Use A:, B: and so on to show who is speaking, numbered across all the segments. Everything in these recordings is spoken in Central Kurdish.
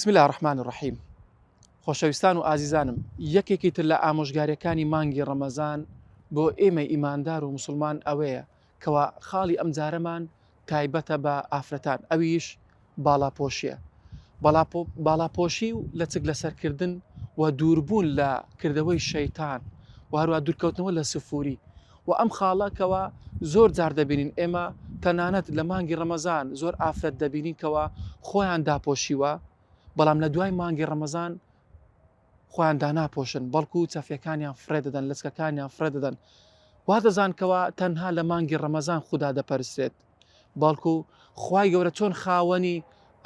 A: بسم اللە الرحمن الرحیم خۆشەویستان و ئازیزانم یەکێکی تر لە ئامۆژگاریەکانی مانگی ڕەمەزان بۆ ئێمە ئیماندار و مسلمان ئەوەیە کوا خاڵی ئەم جارەمان تایبەتە بە ئافرەتان ئەویش باڵاپۆشیە باڵاپۆشی و لە چک لەسەر کردن و دووربوون لە کردەوەی شەیتان و هەروە دوورکەوتنەوە لە سفوری و ئەم خاڵەکەوە زۆر جار دەبینین ئێمە تەنانەت لە مانگی ڕەمەزان زۆر ئافرەت دەبینین کەەوە خۆیان داپۆشیوە بەڵام لە دوای مانگی ڕەمەزان خۆیان داناپۆشن، بەڵکو چەفێکانیان فڕێدەدەن، لەچکەکانیان فڕێدەدەن. وادەزان کەوا تەنها لە مانگی ڕەمەزان خودا دەپەرسترێت. بەڵکو خوای گەورە چۆن خاوەنی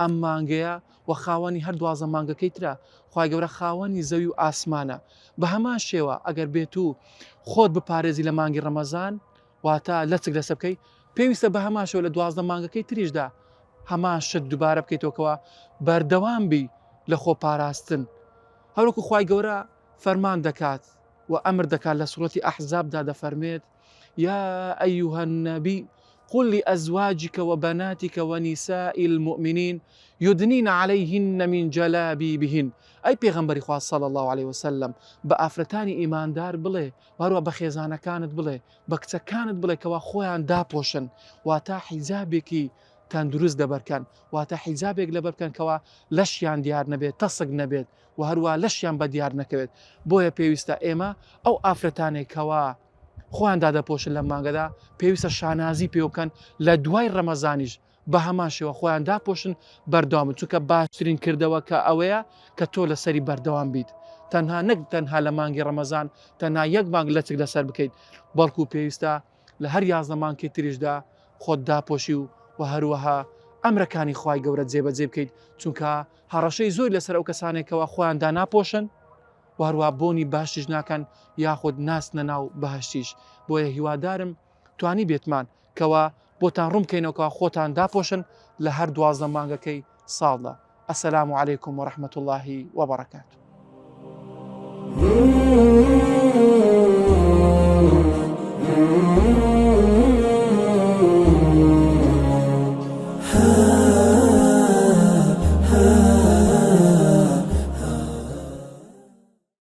A: ئەم مانگەیە و خاوەنی هەر دوازدە مانگەکەی ترە، خوای گەورە خاوەنی زەوی و ئاسمانە. بەهەمان شێوە ئەگەر بێتو خۆت بپارێزی لە مانگی ڕەمەزان، واتە لەچک لەسە بکەی پێویستە بە هەمان شێوە لە دوازدە مانگەکەی تریشدا هەمان شت دووبارە بکەیتەوە کەوا بەردەوام بی لە خۆ پاراستن هەروەکو خوای گەورە فەرمان دەکات و ئەمر دەکات لە سوڕەتی ئەحزابدا دەفەرمێت یا ئەیها النبی قل لأزواجك وبناتك ونساء المؤمنين يدنين عليهن من جلابيبهن ئەی پێغەمبەری خوا صلی الله عليه وسلم بە ئافرەتانی ئیماندار بڵێ وهەروە بە خێزانەکانت بڵێ بە کچەکانت بڵێ کەوا خۆیان داپۆشن واتا حیجابێکی تەندروست دەبەرکەن واتە حیجابێک لەبەرکەن کەوا لەشیان دیار نەبێت تەسک نەبێت و هەروە لەشیان بە دیار نەکەوێت بۆیە پێویستە ئێمە ئەو ئافرەتانێک کەوا خۆیان دادەپۆشن لە مانگەدا پێویستە شانازی پێوکەن لە دوای ڕەمەزانیش بەهەمان شێوە خۆیان داپۆشن بەردەوام بن چونکە باشترین کردەوەکە ئەوەیە کە تۆ لەسەری بەردەوام بیت تەنها نەک تەنها لە مانگی ڕەمەزان تەنها یەک مانگ لەچک لەسەر بکەیت بەڵکو پێویستە لە هەر یازدە مانکی تریشدا خۆت داپۆشی و و هەروەها ئەمرەکانی خوای گەورە جێبەجێ بکەیت چونکە هەڕەشەی زۆر لەسەر ئەو کەسانێکەوە خۆیان داناپۆشن و هەروە بۆنی باشتیش ناکەن یاخود ناچنە ناو بەهشتیش بۆیە هیوادارم توانیبێتمان کەوا بۆتان ڕوون بکەینەوە کەوا خۆتان داپۆشن لە هەر دوازدە مانگەکەی ساڵدا. السلام علیکم و رحمت اللە و برکاته.